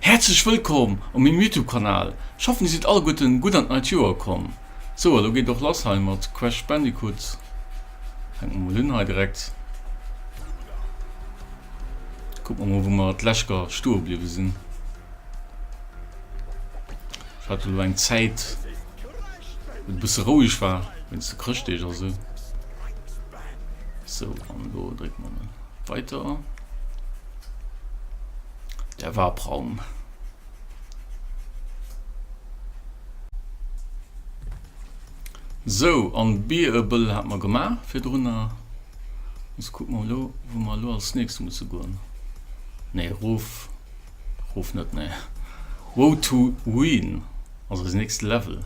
Häerzlech wëllkomm op mengem Youtube Kanal, ech hoffen dir sidd alleguerten gutt an d'neit Joer komm. Sou a lo geet et och lass hei mat Crash Bandicoot, fänkt mer mol un hei direkt. Kucke mer mol wou mer d'leschter stoe bliwwe sinn, ech hat jo lo eng Zäit wou et e bësse roueg war wéinst de Chrëschtdeeg a sou. Sou an lo drécke mer mol weiter. Der Wabraum. Sou, an Bearable hat mer gemaach virdrunner. Ons kucken mer elo wou mer elo als nächst musse goen. Nee, rof, rof net, nee. Road to Ruin ass eisen nächste Level.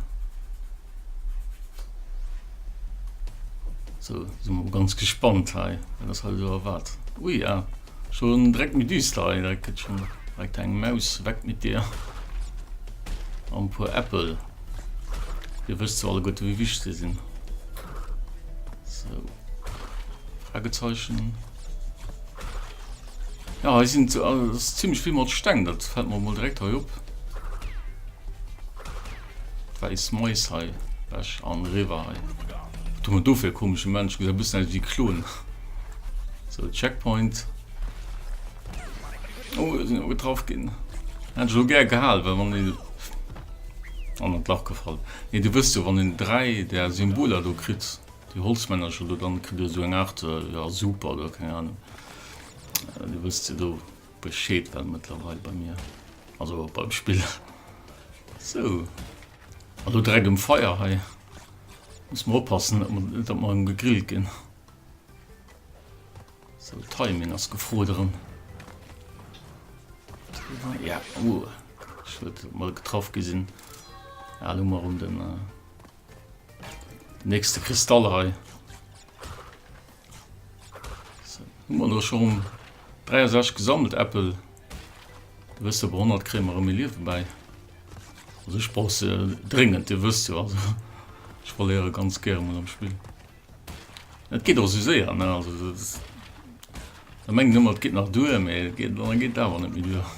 Sou, sinn mer mol ganz gespannt hei, wat ons hei elo erwaart. Ui, ah, Schon direkt méi düster hei, dat get schon direkt heng Maus. Weg mit dir an en puer Äppel. Dir wësst zwar alleguerten wéi wichteg se sinn. Sou. Fragezeichen. Ja hei sinn zimmlech vill mat Steng, dat fällt mer mol direkt hei op. Wäiss Mäus hei weg an eriwer hei. Wat hu mer do fir e komesche Mensch? Gesäit e bëssen aus wéi Klon. Sou, Checkpoint. Oh, ech sinn getraff ginn. Hätt ech elo gär gehal, well wann een. An an d'Lach gefall. Nee, Dir wësst jo, wann een dräi där Symboler do kritt, déi Holzmännercher do, dann kritt ee sou eng Aart, ja, Soup oder keng Ahnung. Dir wësst se do. Bescheed well mëttlerweil bei mir also beim Spill sou an do dreck um Feier hei muss mer oppassen dat mer um gegrillt ginn. So Timing ass gefroderem ja uh, ich huet mal getraff gesinn ja, lo mar um den äh, nächste Kristall hei. Hu mer lo schon 63 gesammelt Äppel. Wësse bei 100 kréie mer méi Liewe bäi. Also ech brauch se dréngend, Dir wësst jo also ech verléiere ganz gäre mol am Spill. Et geet och esou séier ne also dat da mengen ëmmer et geet nach duer mee et geet awer net méi duer.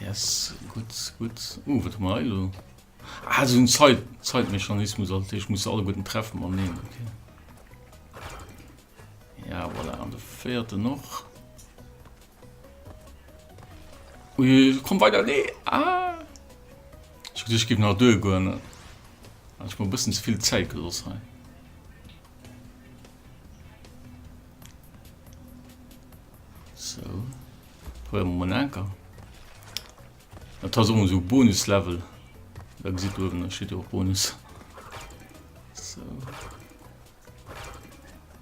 Yes, gutt, gutt. Uh, wat hu mer hei elo? Ah, so un Zeit, Zeitmechanismus, also ich muss alle guten treffen man neen, okay. Ja, voilà, an de vierte noch. Ui, komm weiter, nee, ah. Ich, ich gebe nach Dö gönnen. Ah, ich mal ein bisschen zu viel Zeit gelost sein. So. Probéiere mer mol en Anker. Dat ass och esou Bonus-Level. Da gesitt der uewen, da steet jo och Bonus. So.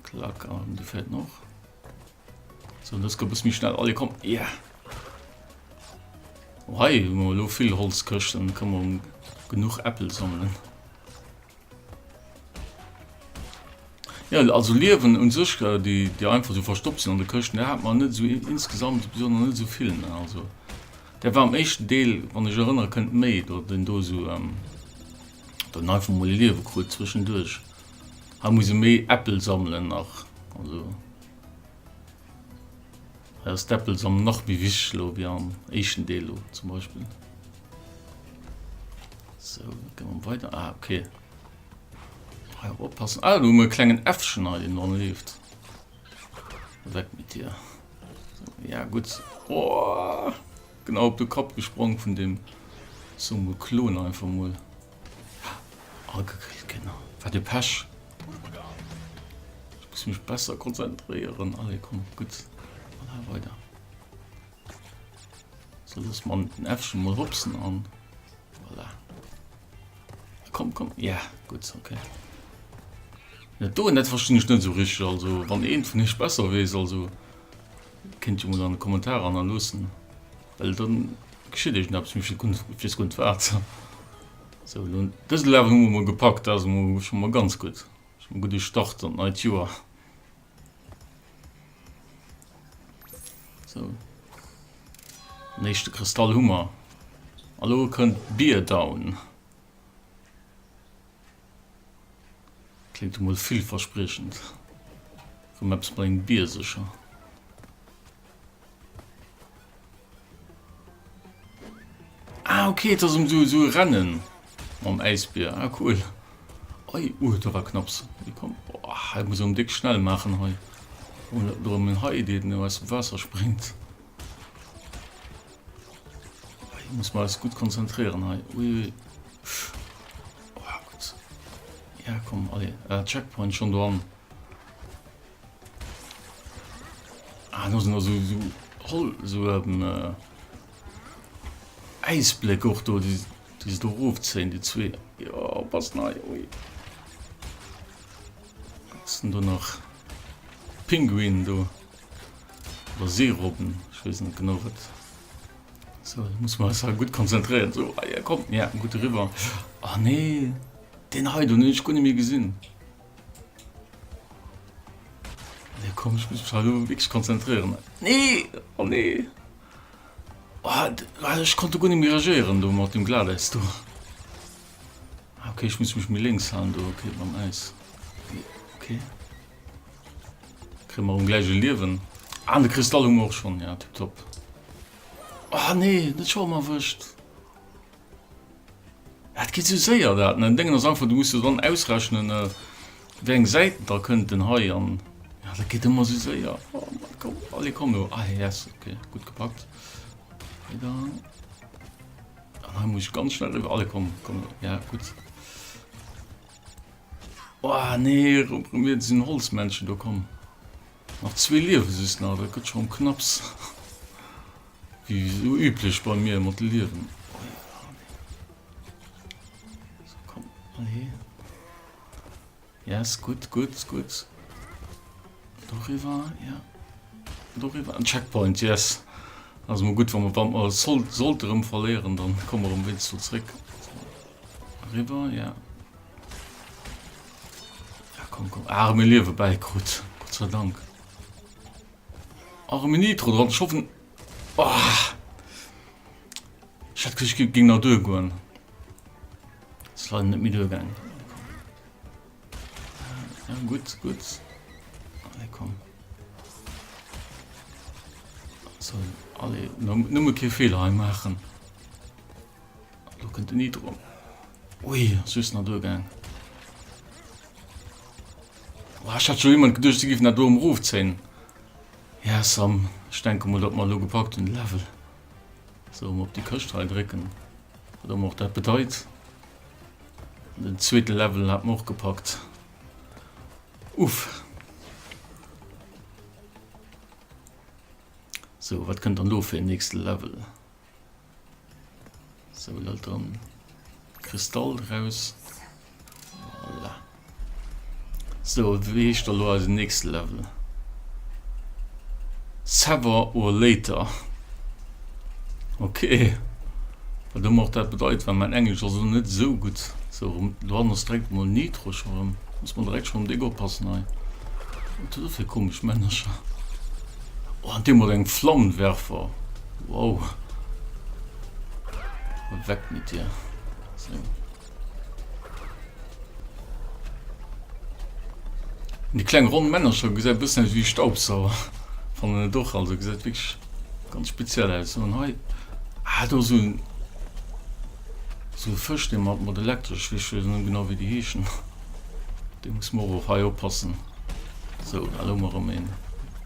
Klack, an du fährt noch. So, und das kommt bis mich schnell. Alle kommen. Ja. Yeah. Oh, hey, wir haben viel Holzkirschen. Können wir genug Äpfel sammeln. Ja, also Liewen un sech, äh, déi, déi einfach esou verstoppt sinn an de Këschten, där hat mer net esou insgesamt besonnesch net esou vill. Ne? Also der war am éischten Deel, wann ech erënnere kënnt, méi do den do so ähm, dann einfach mol e Liewe krut zwischenduerch. Ha muss e méi Äppel sammelen nach. Also. Aus Deppel ass am nach méi wichteg elo ewéi am éischten Deel elo zum Beispill. So, da ginn mer weider. Ah, okay. Hei och oppassen. Ah, do hu mer e klengen Äffchen hei, deen dran leeft. Weg mit dir. Ja, gut. Oh, genau op de Kapp gesprong vun dem Summoklon einfach mol. Agegrillt Kinner, wat e Pech! Ech muss mech besser konzentréieren. Allez, komm, gutt, an awer weider. Sou, loosse mer den Äffchen mol hopsen an voilà. Komm, komm, ja, yeah, gutt, okay. Dat do net verstinn ech net sou richteg. Also wann eent vun iech besser weess, also kéint jo mol an de Kommentarer hannerloossen. Well dann geschitt eegneppes, mee wees guer net waat. Sou elo dëse Level hun mer mol gepackt, daat ass emol scho mol ganz gudd. Scho mol gudde Start an d'neit Joer. Sou den éischte Kristall hu mer a lo kënnt Bear Down. Klingt emol villverspriechend. Komm eppes mat engem Bier secher. Ah, okay, das um so, so rennen am Eisbier. Ah, cool. Oi, uh, da war knapps. Hier kommt. Boah, ich muss um dick schnell machen hei. Und darum ein Hai, der nur aus dem Wasser springt. Ich muss mal alles gut konzentrieren hei. Ui, ui. Oh, gut. Ja, komm, alle. Äh, Checkpoint schon dran. Ah, da sind also so Roll, so ähm, äh, Eisblick auch do, die, die sie do rufzählen, die zwei. Ja, was neu, ui. Was sind da noch? Pinguin do. Oder Seerobben, ich weiß nicht genau was. So, ich muss man das halt gut konzentrieren. So, ah, ja, kommt, ja, gut rüber. Ah, nee, den heute, den ich gar nicht mehr gesehen. Nee, komm, ich muss mich halt wirklich konzentrieren. Nee, oh nee. Oh, ah, ich konnte gut nicht mehr reagieren, du, mit dem Glatteis, du. Ah, okay, ich muss mich mir links haben, du, okay, beim Eis. Okay. Kriegen wir ein gleiches Leben. Ah, der Kristall haben wir auch schon, ja, tipptopp. Oh nee, nicht schon mal erwischt. Dat geet sou séier dat. Mä en Déngen ass einfach, du muss jo dann ausrechnen, wéi eng Säiten da kënnten hei an. Jo, dat geet ëmmer sou séier. Oh Mann, komm, allez, komm elo. Ah, yes, okay, gutt gepackt. Hei da. An hei muss ech ganz schnell iwwer. Allez, komm, komm elo. Ja, gutt. Oh, nee, mir sinn Holzmännchen do, komm. Nach zwee Liewe soss nach, dat gëtt schonn knapps. Wéi sou üblech bei mir mat de Liewen. Sou komm mol hier. Yes gutt gutt gutt. Doriwwer ja. Doriwwer en Checkpoint yes. Ass mol gutt wa mer wann mer sollt sollte rëm verléieren dann komme mer wéinst do zréck. Eriwwer ja. Ja komm komm ah mir Liewe bäi krut. Gott sei Dank. Arme Nitro dran, ech hoffen oh. Ech hat gesicht et ging nach duer goen. Es war net mi duer gang. Ja, gut gut alle kom alle numme ke Fehler machen. Lo kënnt den Nitro. Ui, ass just nach duergaang. Boah, ech hat scho jemand geduecht, se giffen dat do emrofzéien. Ja, Sam, ech denke mol, datt mer elo gepackt hunn de Level. So, mol op déi Këscht hei drécken. Wat ëmmer och dat bedeit. Den zweete Level hat mer och gepackt. Uff. So, wat kënnt dann do fir en nächste Level? Sou lâlt dann Kristall draus. Voilà. So, wéi heescht da lo eisen nächste Level? Sever or later. Okay. Wat ëmmer och dat bedeit, well mein Englesch ass lo net sou gutt. So, rum, do ass direkt mol Nitro scho rëm. Muss mer direkt scho um Déck oppassen hei. Wat huet e fir komesch Männercher? Oh, an dee huet eng Flammenwerfer. Wow. Weg mit dir. So. Die kleinen runden Männer schon gesagt bisschen wie Staubsauer von den doch also gesagt wirklich ganz speziell aus und heute hat ah, so ein so ein Fisch den man mit elektrisch wie schön genau wie die Häschen den muss man auch hier oppassen so hallo mal rumgehen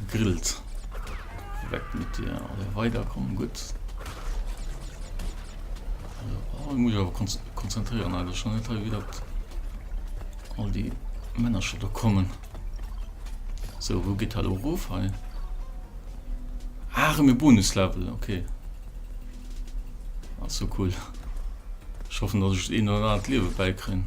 Gegrillt. Weg mit dir. Alle weiter kommen gut. Oh, ich muss aber konzentrieren, Alter. Schon nicht wie dat all die Männer schon da kommen. So, wo geht hallo ruf? Hey. Ah, mir Bonuslevel, okay. Also cool. Ich hoffe, dass ich eh noch ein Leben beikriegen.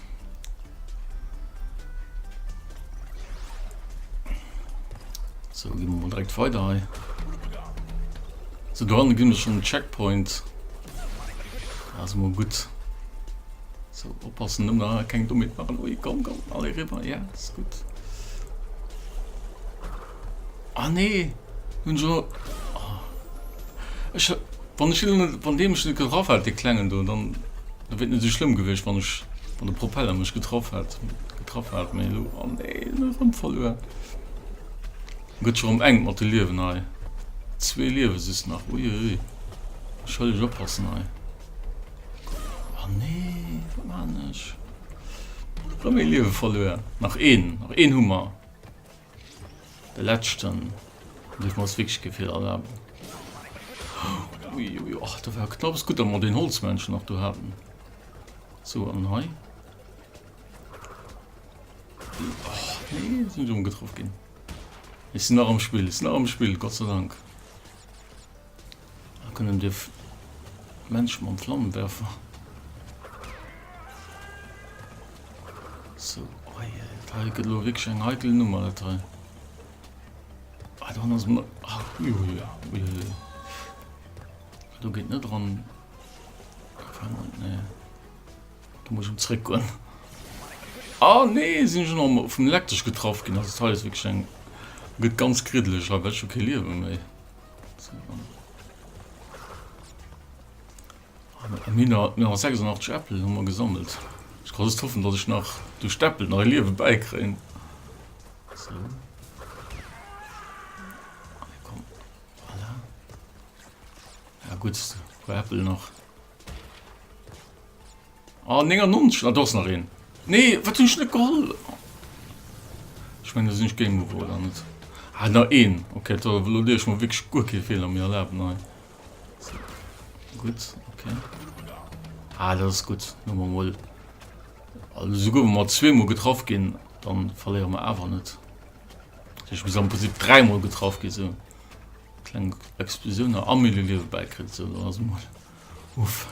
So, gehen wir mal direkt weiter hei. So, da haben wir schon einen Checkpoint. Also mal gut. So, oppassen, nimm da kein Dummit machen. Ui, komm, komm, alle rüber. Ja, ist gut. Ah nee, hun ech awer, ah ech wann ech hien net, wann deen mech net geraff hätt dee klengen do, dann da wier et net esou schlëmm gewiescht wann ech, wann de Propeller mech getraff hätt, getraff hat, mee elo, ah nee elo erëm verluer. En gëtt scho erëm enk mat de Liewen hei, zwee Liewe soss nach, ui ui ui, ech hëll ech oppassen hei, ah nee wat maan ech, erëm ee Liewe verluer, nach een, nach een hu mer. De letzten muss ech mer ass wierklech kee Fehler erlaben. Ui ui och do war knapp ass gutt dat mer den Holzmännchen nach do haten. So an hei sinn dumm getraff ginn. Ech sinn nach am Spill, ech sinn nach am Spill, Gott sei Dank. Ech kënnen de Mensch mam Flammenwerfer. So, oi, dat hei gëtt elo wierklech eng heikel Nummer, dat hei. Ah, dann ass mer... Ah, ui, ui, ui, ui, ui. Do geet net dran. Nee. Da muss ich um zréck goen. Ah, nee, sinn schon am vum Lektesch getraff ginn. Also, dat hei ass wierklech eng... Gëtt ganz griddeleg hei, well ech hu kee Liewe méi. 1986 Äppel hu mer gesammelt. Ich kann just hoffen, dass ich nach durch d'Äppel nach e Liewe bäikréien. So. Komm. Voilà. Ja gut, Äppel nach. Ah 99, ah do ass nach een. Nee, wat hunn ech net geholl? Ech mengen, do sinn ech géing ugeholl, oder net? Ah, nach een. Okay, do elo dierf ech mer wierklech guer kee Feeler méi erlaben hei. Gutt, okay. Ah, dat ass gutt. Hu mer emol. Also sou goufe mer zweemol getraff ginn, dann verléiere mer awer net. Ech muss am Prinzip dräimol getraff gi sou. Kleng Explosioun a Amélie Liewe bäikritt, sou dann ass emol. Uff.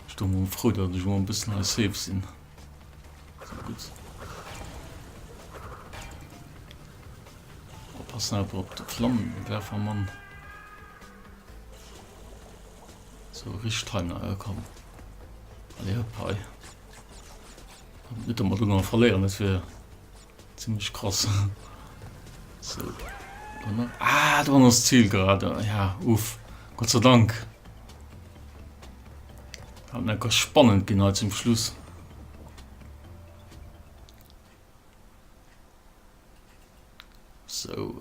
Ech do mol frou dat ech mol en bëssen hei safe sinn. So gutt. Oppassen awer op de Flammenwerfermann. So rich Timer äh, komm. Allez hop hei. Net mat du verléieren, dat wär Zimlech kross. Sou. Ah, do an ass d'Zil grade. Ja, uff. Gott sei Dank. Hat net ganz spannend ginn hei zum Schluss. So.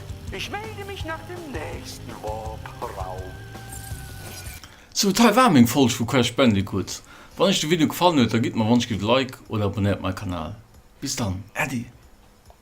Ich melde mich nach dem nächsten Warp Raum. Sou, d'hei war meng Folg vu Crash Bandicoot. Wann iech de Video gefallen huet, da gitt mer wannschgl e Like oder abonnéiert mei Kanal. Bis dann, Äddi!